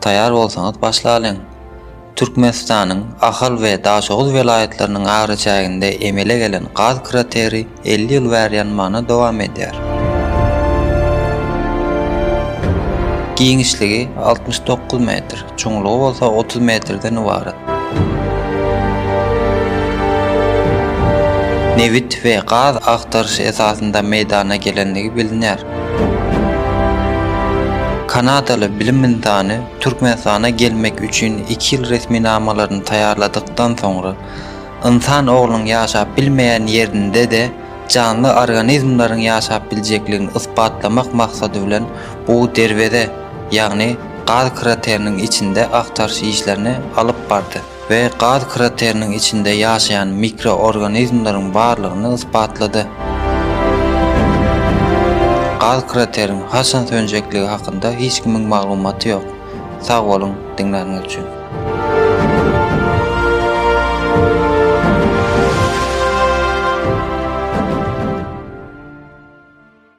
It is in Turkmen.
Taýar bolsaňyz başlalyň! Türkmenistanyň Ahal we Daşoguz welaýatlarynyň araçäginde emele gelen gaz krateri elli ýyl bäri ýanmana dowam edýär. Giňişligi altmyş dokuz metr, çuňlugy bolsa otuz metrden ybarat. Nebit we gaz agtaryş esasynda meýdana gelenligi bilinýär. Kanadaly bilim ynsany Türkmenistana gelmek üçin iki ýyl resminamalaryny taýýarladykdan soňra, ynsan oglunyň ýaşap bilmeýän ýerinde-de janly organizmleriň ýaşap biljekligini ysbatlamak maksady bilen bu derweze, ýagny gaz krateriniň içinde agtaryş işlerini alyp bardy. we gaz krateriniň içinde ýaşaýan mikroorganizmleriň barlygyny ysbatlady. Gaz krateriň haçan sönjekligi hakynda hiç kimiň maglumaty ýok. Sag boluň diňläniňiz üçin.